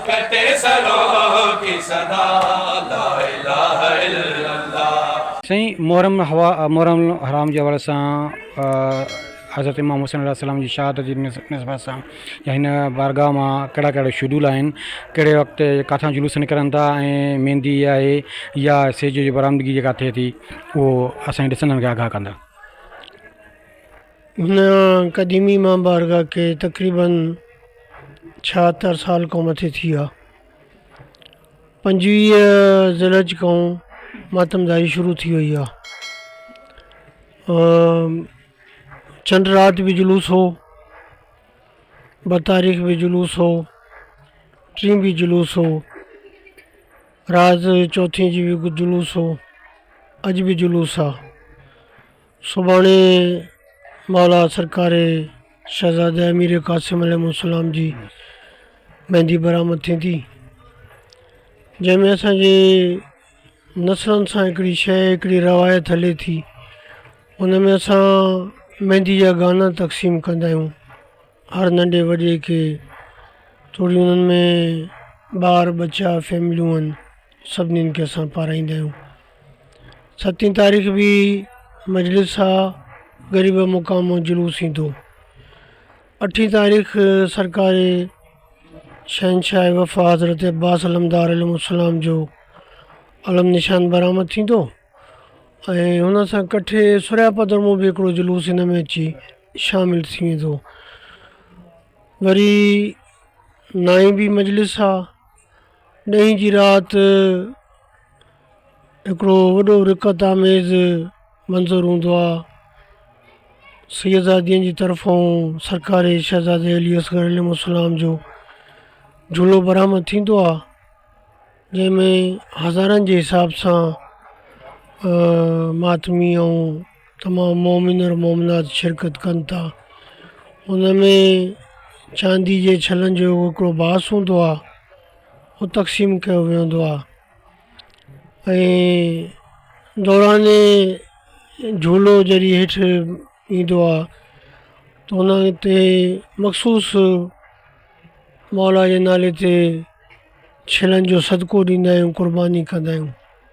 ڪٽي سرون ڪي صدا لا اله الا الله. سائين محرم محرم الحرام جي حوالي سان حضرت امام حسين عليه السلام جي شهادت جي نسبت سان يا هن بارگاهه مان ڪهڙا ڪهڙا شيڊول آهن ڪهڙي وقت ڪاٿان جلوس نڪرن ٿا ۽ ميندي آهي يا سيج جي برآمدگي جيڪا ٿئي ٿي اهو اسان جي ڏسندڙن کي آگاهه ڪندا. هن قديمي مان بارگاهه کي تقريباً ڇاهتر سال کان مٿي ٿي ويا. پنجويهه ذيلحج کان ماتمداري شروع ٿي وئي آ. چنڊ رات به جلوس هو، ٻه تاريخ به جلوس هو، ٽي به جلوس هو، رات چوٿين جي به جلوس هو، اڄ به جلوس آ. سڀاڻي مولا سرڪاري شهزاده امير قاسم عليه السلام جي ميندي برآمد ٿيندي جنهن ۾ اسانجي نسلن سان هڪڙي شيء هڪڙي روايت هلي ٿي ان ۾ اسان ميندي جا گانا تقسيم ڪندا آهيون هر ننڍي وڏي کي توڙي انهن ۾ ٻار ٻچا فيمليون آهن سڀني کي اسان پارائيندا آهيون ستين تاريخ به مجلس سا غريب مقام جلوس ايندو اٺين تاريخ سرڪار شهنشاهه وفا حضرت عباس علمدار عليه السلام جو علم نشان برآمد ٿيندو ۽ هن سان ڪٺي سوريا پدر مون به هڪڙو جلوس هن ۾ اچي شامل ٿي ويندو وري نائين بي مجلس سا ڏهين جي رات هڪڙو وڏو رقت آميز منظر هوندو آ سيدزادين جي طرفون سرڪاري شهزادي علي اصغر عليه السلام جو جلو برآمد ٿيندو آ جنهن ۾ هزارن جي حساب سان ماتمي ۽ تمام مؤمن اور مؤمنات شرڪت ڪن ٿا ان ۾ چاندي جي ڇلن جو هڪڙو باس هوندو آهي هو تقسيم ڪيو ويندو آهي ۽ دوران جهولو جڏهن هيٺ ايندو آهي ته ان تي مخصوص مولا جي نالي تي ڇلن جو صدقو ڏيندا آهيون قرباني ڪندا آهيون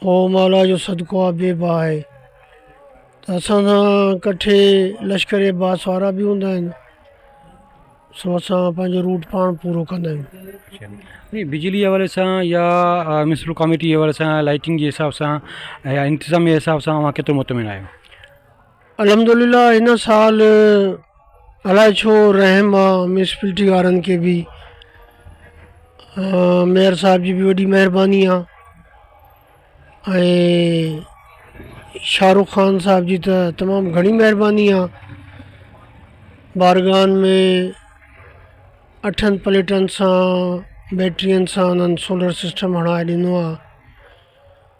پوء مولا جو صدقو آ بي باه آهي ته اسان سان ڪٺي لشڪر عباس وارا به هوندا آهن سو اسان پنهنجو روٽ پاڻ پورو ڪندا آهيون. ائين بجلي جي حوالي سان يا ميونسپل ڪاميٽي جي حوالي سان لائٽنگ جي حساب سان يا انتظام جي حساب سان اوهان ڪيترو مطمئن آهيو؟ الحمدلله هن سال الاء ڇو رحم آ ميونسپلٽي وارن کي به ميئر صاحب جي به وڏي مهرباني آ ۽ شاهه رخ خان صاحب جي ته تمام گهڻي مهرباني آ بارگاهن ۾ اٺن پليٽن سان بيٽرين سان انهن سولر سسٽم هڻائي ڏنو آ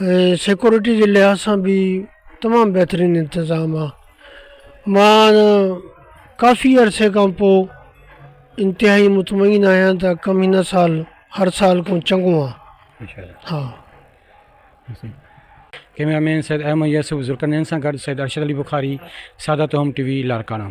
۽ سيڪيورٽي جي لحاظ سان به تمام بهترين انتظام آ مان ڪافي عرصي کان پوء انتهائي مطمئن آهيان ته ڪم هن سال هر سال کان چڱو آ ها ڪيمرا مين سيد احمد يوسف ذوالقرنين سان گڏ سيد ارشد علي بخاري سادات هوم ٽي وي لاڙڪاڻا.